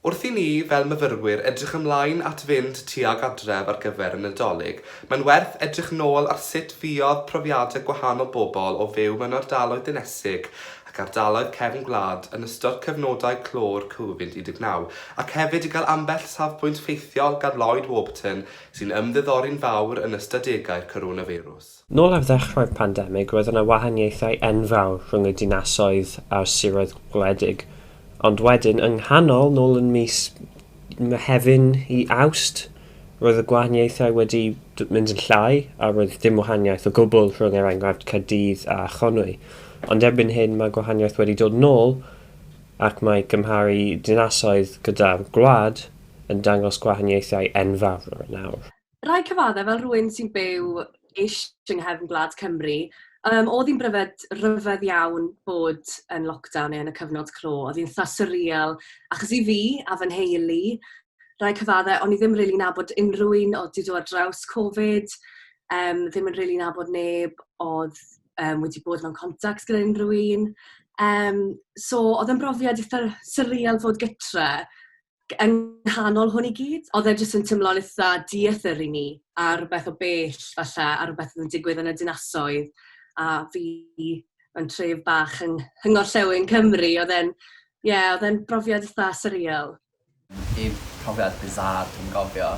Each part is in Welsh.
Wrth i ni, fel myfyrwyr, edrych ymlaen at fynd tuag adref ar gyfer y Nadolig, mae'n werth edrych nôl ar sut fuodd profiadau gwahanol bobl o fyw mewn ardaloedd dinesig ac ardaloedd cefn gwlad yn ystod cyfnodau clo'r Covid 19 ac hefyd i gael ambell safbwynt ffeithiol gan Lloyd Warburton sy'n ymddiddori'n fawr yn ystadegau'r coronafeirws. Nôl ar ddechrau'r pandemig roedd yna wahaniaethau enfawr rhwng y dinasoedd a'r siroedd gwledig, ond wedyn, yng nghanol, nôl yn mis Mehefin i Awst, roedd y gwahaniaethau wedi mynd yn llai a roedd dim wahaniaeth o gwbl rhwng er enghraifft Caerdydd a Chonwy. Ond erbyn hyn mae'r gwahaniaeth wedi dod nôl ac mae cymharu dinasoedd gyda'r gwlad yn dangos gwahaniaethau enfawr nawr. rhai cyfaddau fel rhywun sy'n byw ish yng nghefn gwlad Cymru, um, oedd hi'n bryfed, rhyfedd iawn bod yn lockdown neu yn y cyfnod clo. Oedd hi'n tha surreal, achos i fi a fy nheulu, rhai cyfaddau, o'n i ddim rili really nabod unrhyw un oedd wedi dod ar draws Covid, um, ddim yn rili really nabod neb oedd um, wedi bod mewn contact gyda unrhyw un. Um, so, oedd yn brofiad eitha surreal fod gytre, yng nghanol hwn i gyd, oedd e jyst yn teimlo'n eitha dieithr i mi, a rhywbeth o bell falle, a rhywbeth oedd yn digwydd yn y dinasoedd, a fi mewn tref bach yng ngorllewin Cymru, oedd e'n, ie, yeah, oedd e'n brofiad eitha surreal. Y profiad bizarre dwi'n gofio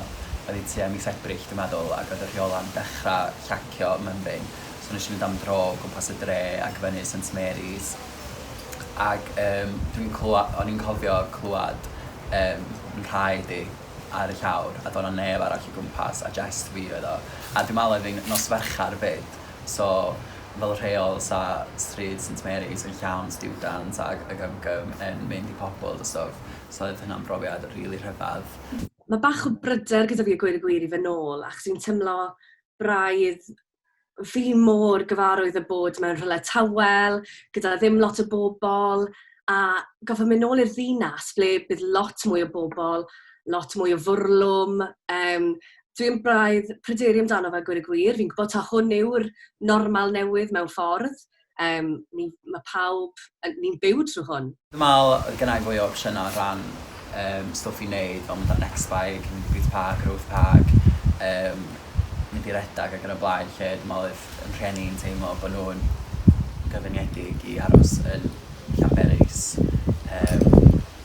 oedd tua mis Ebrill dwi'n meddwl, ac oedd y rheola'n dechrau llacio mymryn, so nes i fynd am dro gwmpas y dre ac fyny St Mary's, ag yym dwi'n clwa- o'n i'n cofio clwad yym nhraed i ar y llawr a do' 'na neb arall o gwmpas a jest fi oedd o a dwi me'wl oedd 'i'n nos Fercher 'fyd so fel rheol sa stryd Saint Mary's yn llawn stiwdant ag ag am gym yn mynd i pobol a stwff so oedd hynna'n brofiad rili rhyfadd. Ma' bach o bryder gyda fi a gweud y gwir i fyn' nôl achos fi'n timlo braidd fi mor gyfarwydd â bod mewn rhywle tawel, gyda ddim lot o bobl, a gorfod mynd nôl i'r ddinas ble bydd lot mwy o bobl, lot mwy o fwrlwm, yym dwi'n braidd pryderu amdano fe gweud y gwir, fi'n gwbod taw hwn yw'r normal newydd mewn ffordd, Yym, ni, mae pawb, ni'n byw trwy hwn. Fi'n meddwl oedd gynna i fwy o opsiynau o ran um, stwff i wneud, fel mynd ar Next Bike, mynd i Boots Park, yr Oath Park, um, mynd i redag ac yn y blaen, lle dwi'n meddwl oedd yn rhieni yn teimlo bod nhw'n gyfyngedig i aros yn Llanberis. Um,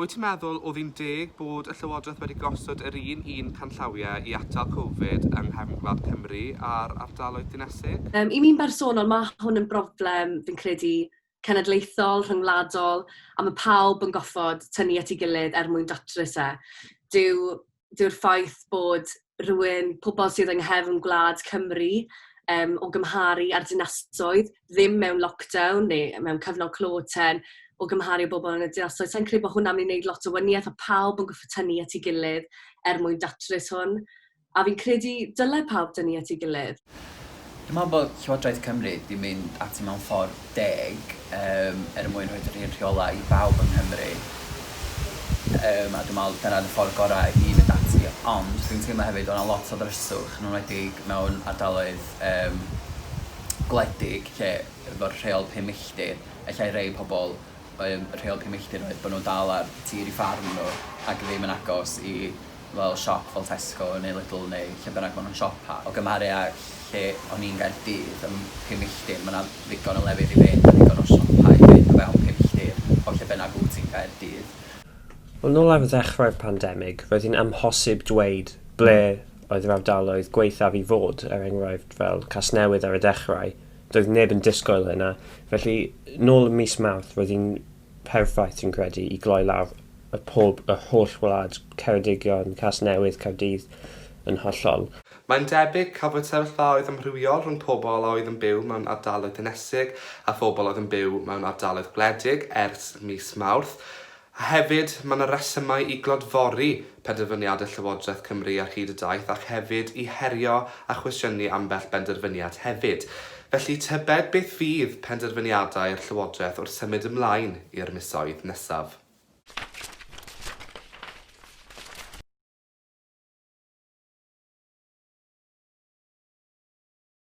Wyt ti'n meddwl oedd hi'n deg bod y Llywodraeth wedi gosod yr un un canllawiau i atal Covid yng nghefn gwlad Cymru a'r ardaloedd dinesig? Yym, i mi'n bersonol, ma' hwn yn broblem, fi'n credu, cenedlaethol, rhyngwladol, a ma' pawb yn goffod tynnu at 'i gilydd er mwyn datrys e. Dyw dyw'r ffaith bod rhywun, pobl sydd yng nghefn gwlad Cymru, yym, o gymharu â'r dinasoedd, ddim mewn lockdown neu mewn cyfnod clo ten, o gymharu â bobl yn y dinasoedd, sa i'n credu bod hwnna'n mynd i wneud lot o wanieth, a pawb yn gorfod tynnu at ei gilydd er mwyn datrys hwn. A fi'n credu dyle pawb dynnu at ei gilydd. Dwi'n meddwl bod Llywodraeth Cymru 'di mynd ati mewn ffordd deg yym er mwyn rhoid yr un rheolau i bawb yng Nghymru yym a dwi'n meddwl dyna'r ffordd gorau i fynd ati ond dwi'n teimlo hefyd o'na lot o ddryswch yn enwedig mewn ardaloedd yym gwledig lle efo'r rheol pum milltir ellai rei pobl Yym rheol cyn milltir oedd bo' nw'n dal ar tir i ffarm n'w ac ddim yn agos i fel siop fel Tesco neu Lidl neu lle bynnag ma' nw'n siopa. O gymharu â lle o'n i'n Gaerdydd ym pum milltir ma' 'na ddigon o lefydd i fynd a digon o siopa i fynd o fewn pum milltir o lle bynnag wt ti'n Gaerdydd. Yn ôl ar ddechrau'r pandemig roedd hi'n amhosib dweud ble oedd yr ardaloedd gwaethaf i fod, er enghraifft fel Casnewydd ar y dechrau, Doedd neb yn disgwyl hynna, felly nôl ym mis Mawrth roedd hi'n perffaith dwi'n credu i gloi lawr y pob yr holl wlad, Ceredigion, Casnewydd, Caerdydd yn hollol. Mae'n debyg cafwyd sefyllfaoedd amrywiol rhwng pobl a oedd yn byw mewn ardaloedd dinesig a phobl oedd yn byw mewn ardaloedd gwledig ers mis Mawrth. A hefyd, mae yna resymau i glodfori penderfyniadau Llywodraeth Cymru ar hyd y daith ac hefyd i herio a chwestiynu ambell benderfyniad hefyd. Felly, tybed beth fydd penderfyniadau'r Llywodraeth wrth symud ymlaen i'r misoedd nesaf?